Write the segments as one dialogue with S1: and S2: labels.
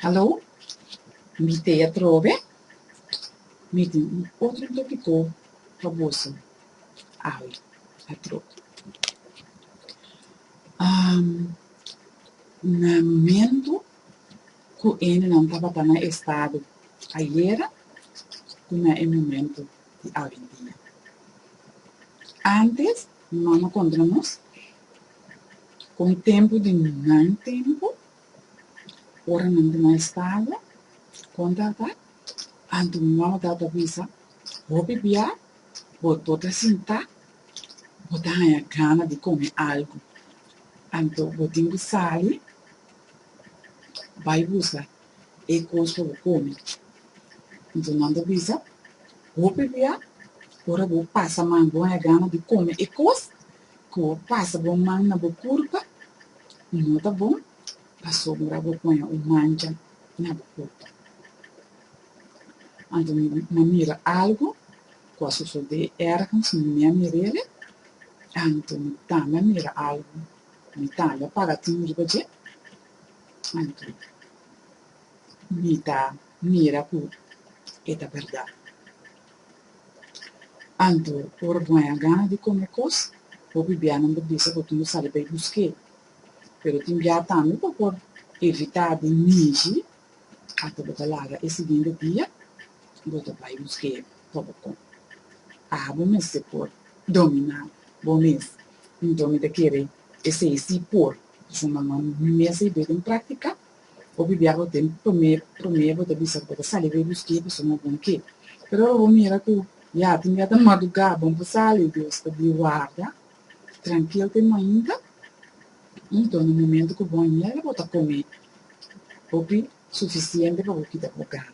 S1: Hallo, mi te atrobe. Mi tin un otro topiko pa boso awe atrò. Na momentu ku e hende nan tabata na e stado ayera ku na e momentu di awendia. Ántes mi mama konta nos. Ku un tempu di nan tempu, ora nan di nan estado, kon ta ta? Anto mi mama ta ta bisa, Hopi bia bo bo ta sinta, bo ta haña gana di kome algu. Anto bo tin ku sali bai buska e kos pa bo kome. Anto nan ta bisa, Hopi bia ora bo pasa man bo haña gana di kome e kos? Ku pasa bo man na bo kurpa no ta bon pasobra bo poña un mancha na bo kurpa. Anto mi a mira algu ku a sosodé ergens mi a mir'ele, anto mi tambe a mira algu, mi tambe a paga tin riba dje. Anto mi ta mira ku e ta bèrdat. Anto, ora bo a haya gana di kome kos, bo bibianan por bisa bo tin bo sali bai busk'é. Pero tin bia tambe bo por evitá di ninji ata bo ta laga e siguiente dia bo ta bai busk'é pa bo kom. Aha bo mester por dominá bo mes. Nton mi ta kere esei sí por. Pasobra mi mes a yiba ei den práktika. Bo bibia bo tin promé, promé bo ta bisa ku bo ta sali riba skei pasobra bo bon ke. Pero ora bo mira ku ya tin biaha ta madugá, bon pa sali, Dios ta di warda, trankil tin mainta, enton na momentu ku bon yega bo ta komé hopi sufisiente pa bo kita bo gana.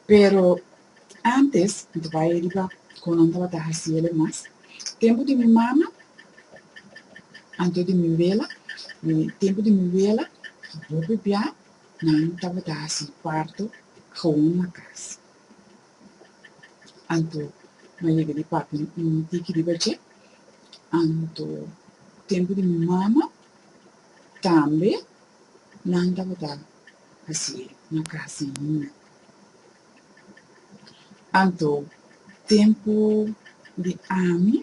S1: Pero, ántes mi ta bai riba kon nan tabata hasi el e mas. Tempu di mi mama, anto di mi wela, i tempu di mi wela, bo pipia nan tabata hasi parto gewoon na kas. Anto mi a yega di papia un tiki riba dje. Anto, tempu di mi mama tambe nan tabata. Así e, nan kasi muda. Anto, tempu di ami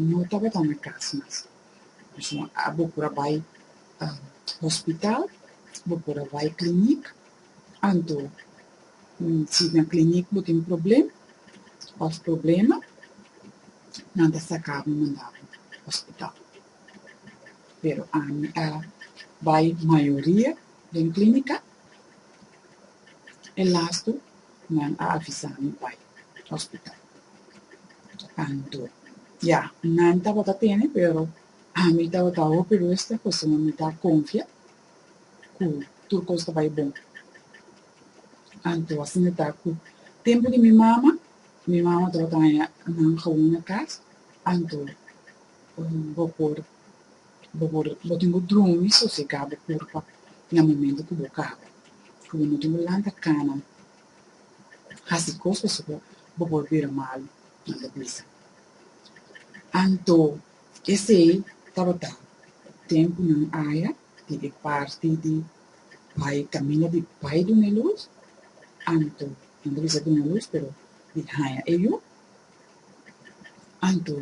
S1: no tabata na kas mas. Pasobra a bo por a bai hospital, bo por a bai klinik, anto si na klinik bo tin problem òf problema, nan ta saka bo manda bo hospital. pero ami a bai mayoria den clínica e lastu nan a avisami bai hospital anto ya nan tabata tene pero ami tabata hopi ruster pasobra mi ta confia cu tur cos ta bai bon anto asina ta cu tempo di mi mama mi mama tabata haya nan gawon na cas anto Bo por, bo por, bo tin bo drumi sosegá bo kurpa na momento ku bo kaba, ku bo no tin bo lanta kana hasi kos pasobra bo bo por bira malu, nan ta bisa. Anto esei tabata tempunan aya di e parti di bai kaminda di bai duna e lus, anto nan ta bisa duna lus pero di haña e yu, anto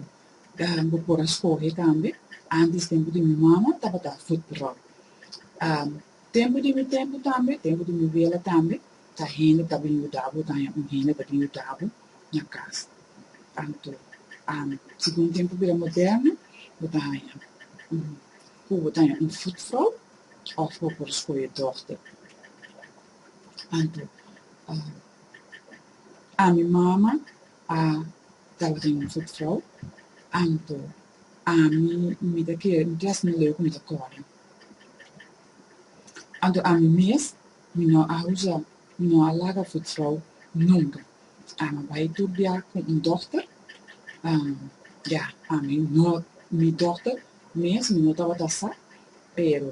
S1: bo por a skohe tambe, antes tempu di mi mama tabata futbròl, tempu di mi tempu tambe, tempu di mi biela tambe, ta hende ta bin yuda bo, ta un hende ta bin yuda bo na kas, tantu segun tempu bira moderno bo ta haña un ku bo ta haña un futvrou òf bo por skohe dòkter, anto a mi mama A tabata un offer trouw, anto ami mi ta kere un klas mi leu ku mi ta kòrda. Anto ami mes mi no a usa, mi no a laga offer trouw nunka. Ami a bai tur biaha ku un dòkter, ya, ami no, mi dòkter mes mi no tabata sa, pero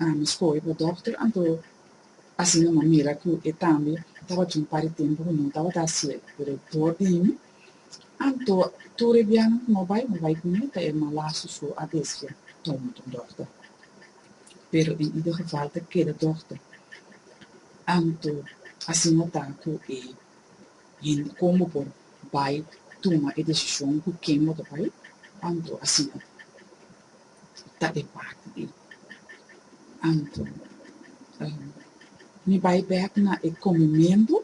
S1: ami skohe pa dòkter, anto Asina manera ku e tambe tabatin un par di tempu ku no tabata hasi el. Pero e dor di mi, anto tur e biaha ku no bai, mi bai ku mi, ta e malasu so a desfia toma tur dòkter. Pero en ieder geval ta keda dòkter. Anto asina ta ku e hende kon bo por bai tuma e desishon ku ken bo ta bai? Anto asina ta. ta e parti ei. Anto, mi bai bek na e komementu,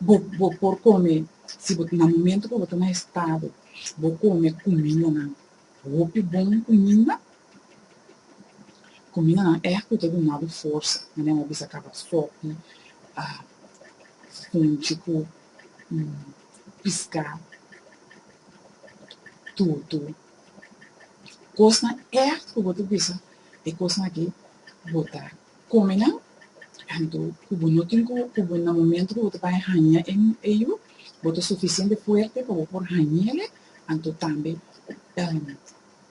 S1: bo bo por kome, si bo na momentu ku bo ta na estado bo kome kumindanan hopi bon kuminda, kumindanan èk ku ta duna bo forsa, manera mi a bisa kaba sòpi, funchi ku y pisca tutu cosnan echt cu bo ta bisa e cosnan aki bo ta come nan anto cu bo no tin cu cu bo na momento cu bo ta bay hanja e e yu bo ta suficiente fuerte pa bo por hanjele anto tambe.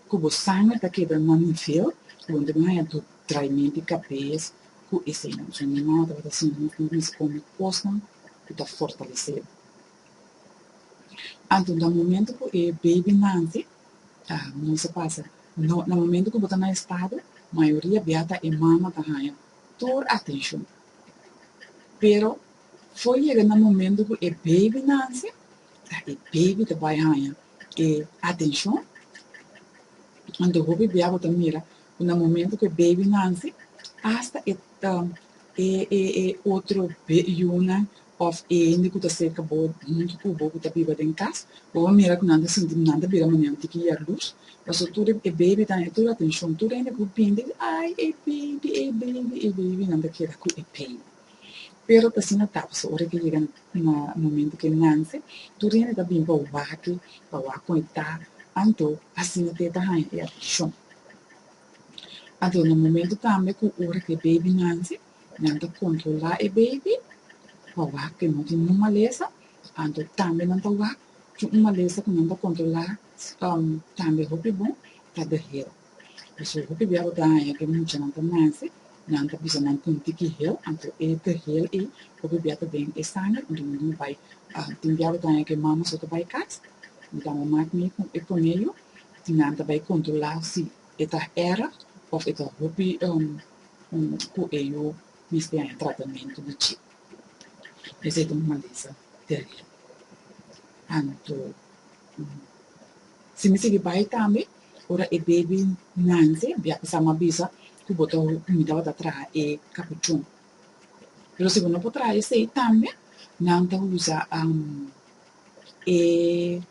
S1: Ku bo sanger ta kebra no mi feo donde bo haña tur traimen di kabes ku eseinan so mi no tabata siña mi ku risponde kosnan ku ta fortalesé bo anto na momento ku e baby nanti ta mester pasa no na momento ku bo ta na estado mayoria bia ta e mama ta haña tur atenshon pero for yega na momento ku e baby nansi Ta e baby ta bai haña e atencion. Anto hopi bia bo ta mira cu na momento cu e baby nanci hasta e e otro yunan of e hende cu ta cerca bo hunto cu bo cu ta biba den cas bo a mira cu nan ta sinti nan ta bira manera un tiki yaluz pasobra tur e baby ta haña tur e atencion tur e hende cu bindi ay e baby e baby e baby nan ta keda cu e baby. Pero ta asina ta paso ora ke yega na momento ke nance tur hende ta bin pa waki pa wak conecta anto asina te ta haya e atenshon. Anto na momento tambe ku ora ke baby nance nan ta controla e baby pa wak ke no tin ningun malesa anto tambe nan ta wak cu un malesa cu nan ta controla tambe hopi bon ta dehero. Pasobra ku te diablo ta haña ku muchanan ta nase, nan ta bisa nan tin tiki hel, anto e tihel ei lo ke bia ta den e sanger, anto nan tin bai. Tin diablo ta haña ku e mama so ta bai kas, mi ta wak mak mi ku e koneyu, tin nan ta bai kontrolá si e ta hera òf e ta hopi ku e yu mester haña tratamentu di chip. Esei ta un maldesa teribel, anto. Si mi sigui bai tambe, ora e bebi nante bia pasa ma bisa cu bo ta mi tabata traha e capuchon. Pero si bo no por traha esey tambe nan ta usa e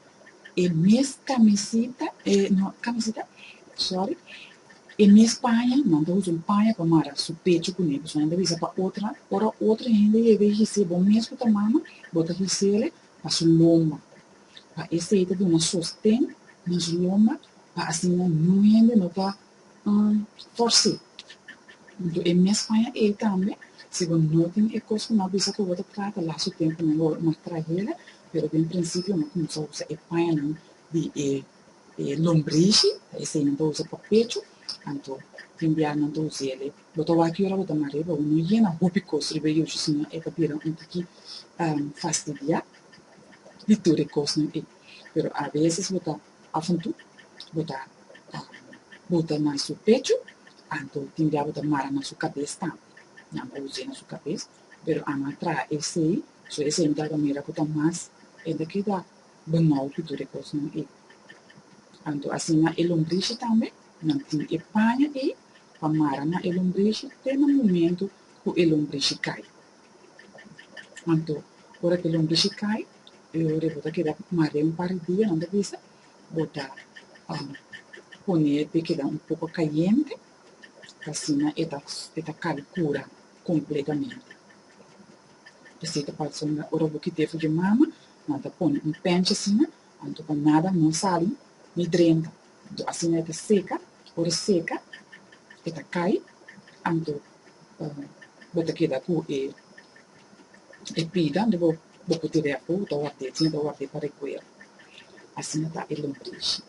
S1: e mes camisita, e no camisita, sorry, e mes paña, nan ta usa un paña pa mara su pecho cu ne, pasobra nan ta bisa pa otra, ora otra hende yega y hici'e bo mes cu ta mama bo ta hici'e pa su lomba. pa esei ta duna sosten nos lomba pa asina nun hende no ta fors'é. Anto e mes aña ei tambe, si bo no tin e kos ku nan a bisa ku bo ta trata laso tempunan lo mas trahera, pero den prinsipio nan kuminsá usa e pañanan di e lombrishi, ta esei nan ta usa pa pechu, anto tin bia nan ta us'é bo ta wak ora bo ta mar'é pa bo no yena hopi kos riba e yushi sino e ta bira un tiki fastidiá. di tur e kosnan ei. Pero a veces bo ta afuntu, bo ta buta na su pechu, anto tin bia bo ta mara na su kabes tambe. Nan a use na su kabes, pero a no a traha esei, so esei mi tabata mira ku ta mas e ta keda banou ku tur e kosnan ei. Anto asina e lombrishi tambe, nan tin e paña ei pa mara na e lombrishi te na momento ku e lombrishi kai. Anto, ora ku lonbishi kai, i ora bo ta keda marea un par di dia, nan ta bisa bo ta pone e pe keda un poko kayente, ta asina e ta e ta kal kura kompletamente. Esei ta pasa unda ora bo kiti e fiju mama, nan ta pone un pènchi asina, anto pa nada no sali ni drenta. Anto asina e ta seka, ora e seka e ta kai, anto bo ta keda ku e e piga unda bo bo ku dirèk bo ta ward'é, tin e ta ward'é pa rekuer. Asina ta e lombrishi.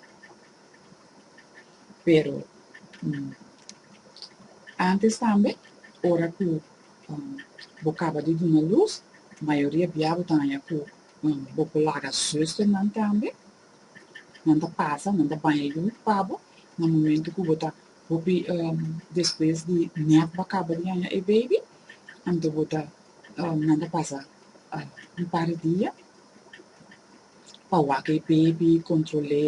S1: Pero ántes tambe ora ku bo kaba di duna lus, mayoria bia bo ta haña ku bo ku laga zùsternan tambe, Nan ta pasa, nan ta baña lut pa bo na momento cu bo ta hopi despues di net bo a caba di haña e baby. Anto bo ta, nan ta pasa un par di dia pa wak e baby, control'é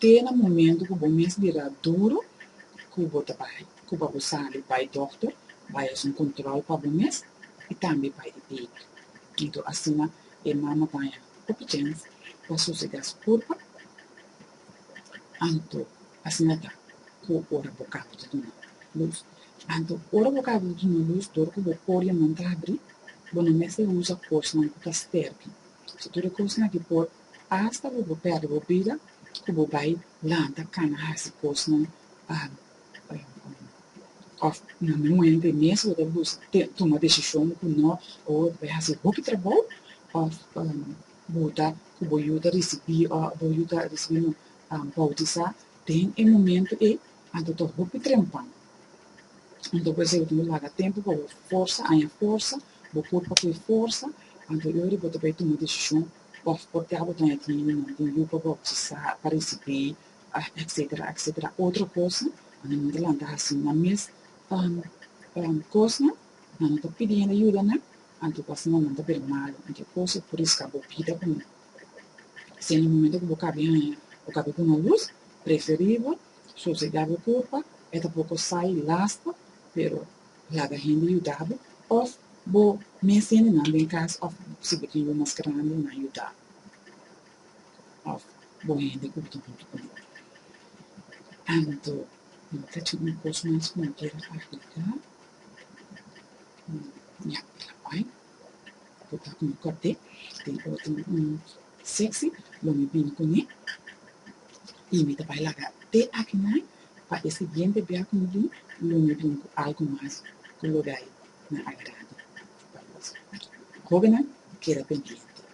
S1: te na momento cu bo mes bira duro cu bo ta bai, cu bo a por sali bai doctor, bai haci un control pa bo mes y tambe bai e baby. Anto asina. E mama baña e pichens pa sosega su kurpa, anto asina ta ku ora bo kaba di duna lus. Anto ora bo kaba di duna lus, dor ku bo oria nan ta habri, bo no mester usa kosnan ku ta stèrki, si tur e kosnan aki por asta bo bo pèrdè bo bida ku bo bai lanta kana hasi kosnan pa Of na mi muente mes bo ta bus te tuma desishon ku no o bai hasi hopi trabou of bo ta ku bo yu ta risibí o bo yu ta risibí no boutisá den e momento ei anto ta hopi trempan. Anto por esei bo tin ku laga tempu pa bo forsa aña forsa bo kurp a koe forsa anto e ora ei bo ta bai tuma desishon of por te bo ta aña tin yu no den yu pa boutisá pa risibí Etcetera etcetera otro cosa nan a manda lanta haci nan mes cosnan nan no ta pidi hende yuda nan anto bo a haci mandan ta bira malo anto e cosa por risca bo bida cu nan si en e momento cu bo cabe haya bo cabe cu nan luz preferible so si ta bo culpa e ta poco sai lasta pero laga hende yuda bo of bo mes hende nan den cas of si bo tin yu mas grandi nan yuda. Bo hende ku ta hopi ku bo. Anto no ta cabe un kos mas ku no quiere agregar? Ña e la bai bo ta ku mi kòpde den otro un seksi lo mi bini kuné i mi ta bai laga te akinan pa e siguiente bia ku mi bin lo mi bin ku algu mas ku lo dai na agrad'e pa nos. Hóbennan keda pendiente.